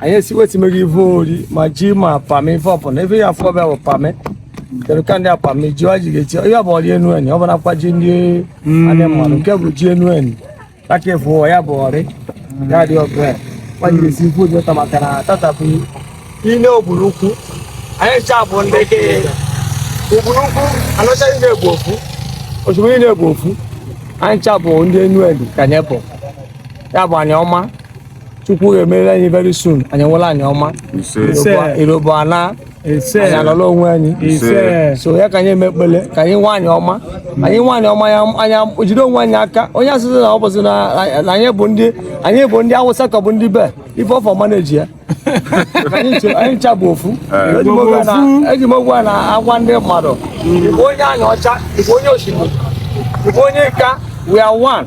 anyị esiwetimeghị ive ori ma ji ma pami ife ọpụna ife ya afọ ọbịa bụ pami kedu ka ndị pami ji wa ji ga-eti ihe ọ bụ ọrị Enuani ọ bụ nakwa ji ndị hmm. adị mmadụ nke bụ ji Enuani aka efu ụwa ya bụ ọrị ya dị ọgụ ya kwa ji ga-esi ife oji ụta maka na tata bụ Ine Ubulu Ukwu anyị ncha bụ ndị kenye Ubulu Ukwu Aniocha niine bụ ofu Oshimili niine bụ ofu anyị ncha bụ ndị Enuani ka anyị bụ ya bụ Anioma chukwu ga-emere anyị very soon anyị nwere Anioma ise Ise. irobo ana ise anyị anọla onwe anyị ise so ya ka anyị eme ekpele ka anyị nwe Anioma anyị nwe Anioma ya anyị ejide onwe anyị aka onye asịsị na ọ bụzi na na anyị bụ ndị anyị bụ ndị awụsa ka bụ ndị be ife ọfọ manage ya anyị nche- anyị ncha bụ ofu Eji m oge na- eji m oge a na-agwa ndị mmadụ ị bụ onye Aniocha ị bụ onye Oshimili ị bụ onye Ika we are one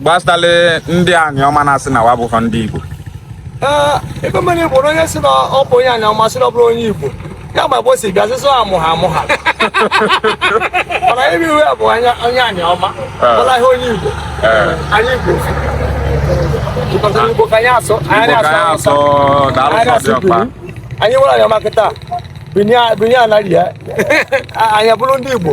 gbasịtara ndị Anioma na-asị na wa bụkwa ndị Igbo ebe mmiri Igbo na onye sị na ọ bụ onye Anioma sị na ọ bụrọ onye Igbo ya ma be o si bịa sịsọ amụ ha amụ ha mana ebe iwe bụ onye Anioma ọla ihe onye Igbo anyị Igbo Igbo ka anyị asụ anyị asụ anyị asụ anyị nwere Anioma kịta binye anaghị ya anyị bụrụ ndị Igbo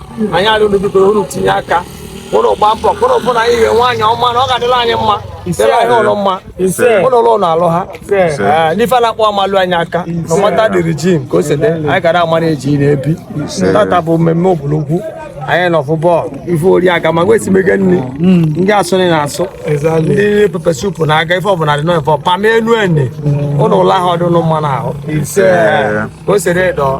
anyị arịọrọ biko unu tinye aka unu gba mbọ ka unu fụ na anyị enwe Anioma na ọ ga-adịla anyị mma dịla anyị ụlọ mma ụlọ ụlọ na alụ ha n'ife na-akpọ amalụ anyị aka no matter the regime ka o si dị anyị gara manage na-ebi tata bụ mmemme Ubulu Ukwu anyị nọ fụ bọọlụ ife ori aga ma nwesi mege nri hmm. ndị asụ nri na-asụ ndị pepper soup na-aga ife ọbụla dị n'ofe pami Enuani ụlọ ụlọ ahụ ọdụnụ mma na ahụ ka o si dị dọọ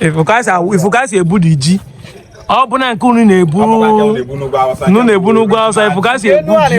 ị fụ ka si ebu di ji ọ bụ na nke unu na-ebu unu na-ebu n'ugwu Awụsa ị fụ ka si ebu ji